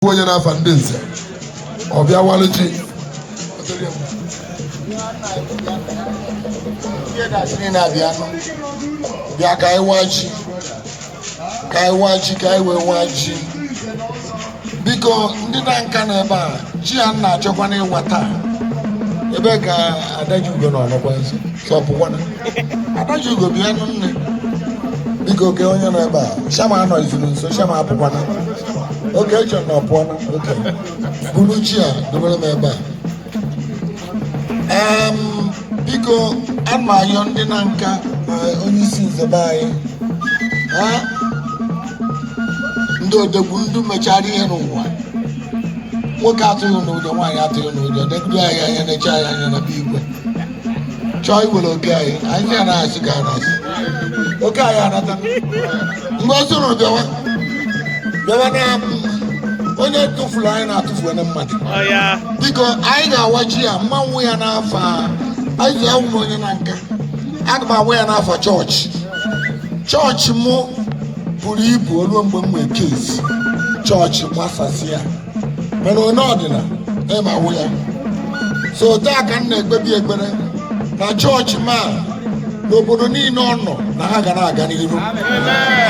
bụ onye n'afa ndị nze ọ bịa walụ ji bịa ka anyị waa ji ka anyị waa ji ka anyị wee waa ji biko ndị na nka na ebe a ji a na-achọkwa n'ịwa taa ebe ka adaji ugo nọ ọ nọkwa nso chọpụkwana adaji ugo bịa nụ nne biko oke onye nọ ebe a shama anọ izuru nso shama apụkwana oke echọ na ọpụọna oke buru ji a dobere m ebe a Em, biko ana m ayọ ndị na nka na onye isi nze be anyị ha ndị odegwu ndị mechara ihe n'ụwa nwoke atụghị n'ụjọ nwaanyị atụghị n'ụjọ negide anyị anya neche anyị anya na be igwe chọọ iwere oke anyị anyị ya na-achị ka na-achị oke anyị anata mgbe ọ sụrụ bịawa bịawa na onye tụfuru anyị na-atụfu onye mmadụ biko anyị ga-awa ji a mmanwụ ya n'afa anyị ji awụ m onye na nka aga m awa ya n'afa chọọchị chọọchị mụ buru ibu o luo mgbe m nwee kesi chọọchị gbasasịa mana onye ọdịna ịma wụ ya so taa ka m na-ekpebi ekpere na chọọchị ma n'obodo niile ọ nọ na ha ga na-aga n'iru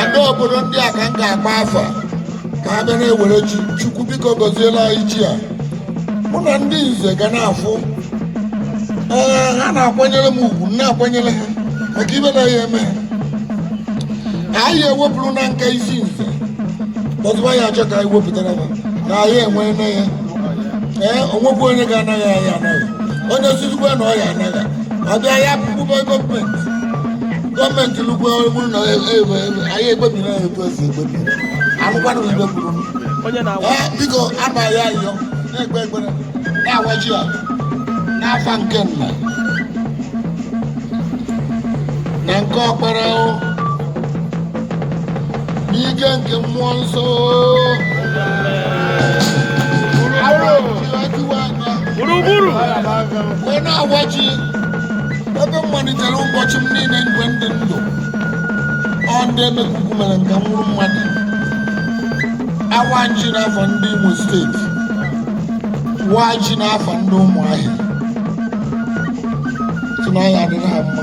ndị obodo ndị a ka m ga-akpọ afa ka ha bịa na-ewere ji chukwu biko gọziela anyị ji a mụ na ndị nze ga na-afụ ee ha na-akwanyere m ugwu m na-akwanyere ha maka ibe na ya eme ha anyị ewepụrụ na nka isi nze ọzụwa ya achọ ka anyị wepụtara ha na anyị enwe nne ya ee o nwekwu onye ga-anaghị anyị anaghị onye sizikwa na ọ ya anaghị ọbịa ya pụkwube gọọmenti gọọmenti lụkwa bụrụ na anyị ekpebiri ya etu esi ekpebi anụkwanụ ibe kwuru onye na-awa ee biko abaghị ayọ na-ekpe ekpere na-awa ji a n'afa nke nna na nke ọkpara o n'ike nke mmụọ nsọ Aro tiwa anya gburugburu wee na-awa ji ebe m malitere ụbọchị m niile mgbe m dị ndụ ọ ndị emekuku mere nke m wụrụ mmadụ awa ji n'afa ndị Imo steeti waa ji n'afa ndị ụmụahịa sị na ya adịrị ha mma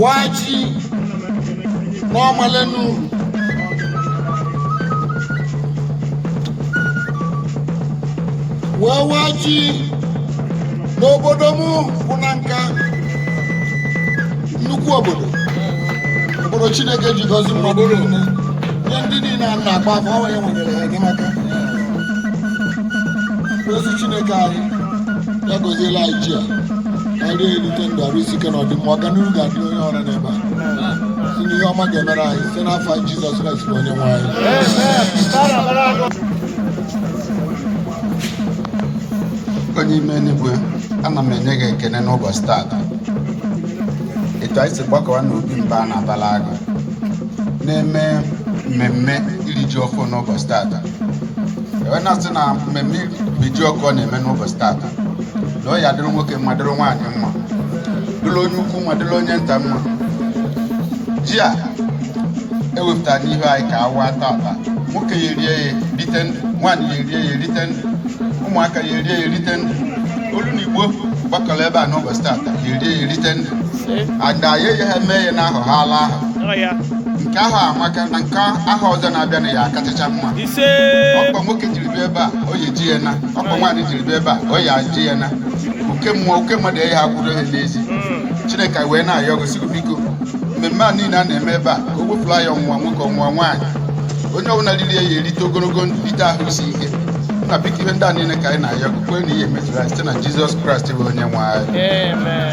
wachi n'ọmalenu wee wachi n'obodo m bụ nanka nnukwu obodo obodo chineke ji gọzi mmadụ niile nye ndị niile a na-agba afọ ọnwa ya nwere enyemaka ezi chineke anyị ya gọziela anyị ji a e rie ya erite ndụ arụ isi ike na ọdịmma ọganihu ga-adị onye ọrụ n'ebe a si na ihe ọma ga-emere anyị site n'afa nwa gị jizọs kraịst bụ onye nwe anyị onye ime eluigwe ana m enye gị ekene n'ụbọchị taata etu anyị si gbakọwa n'obi mba a na-abala agụ na-eme mmemme iri ji ọfụ n'ụbọchị taata wee na-asị na mmemme iri ji ọfụ a na-eme n'ụbọchị taata na ọ ya-adịrị nwoke mma dịrị nwaanyị mma dịrị onye ukwu mma dịrị onye nta mma ji a e wepụtara n'ihu anyị ka a waa taata nwoke ya erie ya erite ndụ nwaanyị ya erie ya erite ndụ ụmụaka ya erie ya erite ndụ olu na igbo gbakọrọ ebe a n'ụbọchị taata ya erie ya erite ndụ ada ya eyi ha mee ya n'ahụ ha ala ahụ nke ahọ a amaka na nke ahọ ọzọ na-abịa na ya akachacha mma ọkpa nwoke jiri bịa ebe a ọ ya-eji ya naa ọkpa nwaanyị jiri bịa ebe a ọ ya-eji ya naa oke mmụọ oke mmadụ ya akwụrụ ya n'ezi chineke wee na-ayọ gị sị gị biko mmemme a niile a na-eme ebe a ka o wepụlụ anyị ọnwụnwa nwoke ọnwụnwa nwaanyị onye ọbụla riri ya ya erite ogologo ndụ rite ahụ isi ike na biko ihe ndị a niile ka anyị na-ayọ gị kwee na ị ya-emezuru anyị site na jizọs kraịst bụ onye nwe anyị Amen.